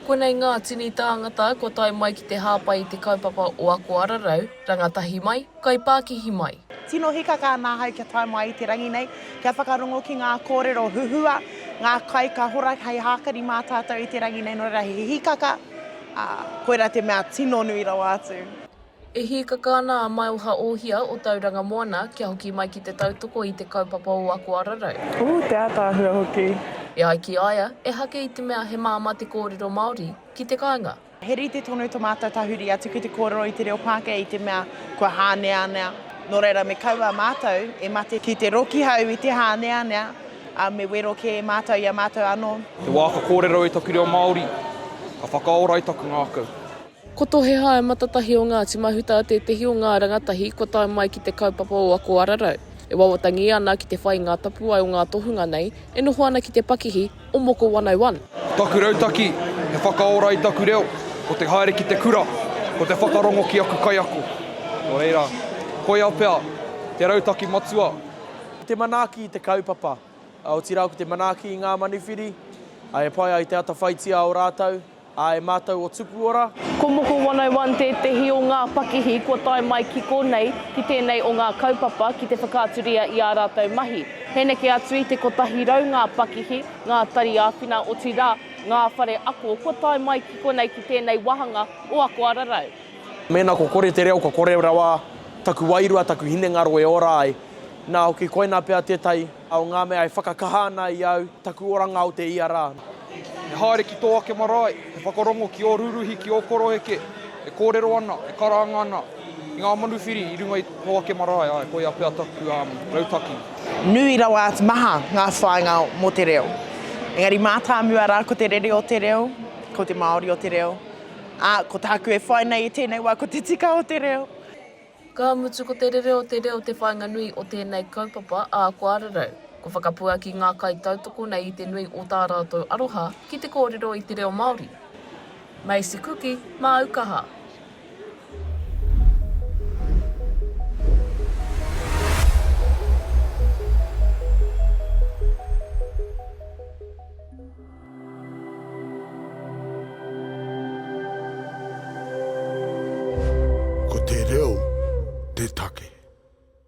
Konei ngā tini tāngata kua tae mai ki te hāpai i te kaupapa o Ako Ararau, rangatahi mai, kaipākihi mai. Tino hīkaka ana ahau kia tae mai i te rangi nei, kia whakarongo ki ngā kōrero huhua, ngā kai ka hora hei hākari mā tātou i te rangi nei, nō reira he hīkaka, ā, koirā te mea tino nui rawa atu. E hīkaka ana a Maioha Ohia o Tauranga Moana kia hoki mai ki te tautoko i te kaupapa o Ako Ararau. Ū te ātaahua hoki. E ai ki a ia, ehake i te mea he māmā te kōrero Māori ki te kāinga. He rite tonu tō mātou tahuri atu ki te kōrero i te reo Pākehā i te mea kua hāneanea, nō reira me kaua mātou e mate ki te rokihau i te hāneanea, ā, me wero kē mātou i a mātou anō. He wā ka kōrero i taku reo Māori, ka whakaora i taku ngākau. Ko Tohehae Matatahi o Ngāti Mahuta tētehi o ngā rangatahi kua tae mai ki te kaupapa o Ako Ararau, e wawatangi ana ki te whai i ngā tapuwae o ngā tohunga nei e noho ana ki te pakihi o Moko 101. Taku rautaki, he whakaora i taku reo, ko te haere ki te kura, ko te whakarongo ki aku kaiako. Nō reira, koia pea te rautaki matua. Ko te manaaki i te kaupapa, otirā ko te manaaki i ngā manuwhiri, e pai ai te atawhaitia o rātou. A e mātou o Tupuora. Ko Moko 101 tētehi o ngā pakihi kua tae mai ki konei, ki tēnei o ngā kaupapa ki te whakaaturia i ā rātou mahi. He neke atu i te 100 ngā pakihi, ngā tari āwhina otirā, ngā whare ako kua tae mai ki konei ki tēnei wāhanga o Ako Ararau. Mēnā ko kore te reo kua kore rawa taku wairua, taku hinengaro e ora ai. Nā hoki koinā pea tētahi. O ngā mea e whakakaha ana i au, taku oranga o te ia rā. E haere ki tō ake marae, e whakarongo ki ō rūruhi, ki ō koroheke, e kōrero ana, e karanga ana i ngā manuwhiri i runga i tō ake marae, āe, koia pea taku rautaki. Nui rawa atu maha ngā whāinga mō te reo. Engari mātāmua rā ko te rere o te reo, ko te Māori o te reo, ā, ko tāku e whai nei i tēnei wā ko te tika o te reo. Ka mutu ko te rere o te reo te whāinga nui o tēnei kaupapa ā kua rerau. Kua whakapuaki ngā kaitautoko nei i te nui o tā rātou aroha ki te kōrero i te reo Māori. Macy Kuki, Māu Kaha. Ko te reo te take.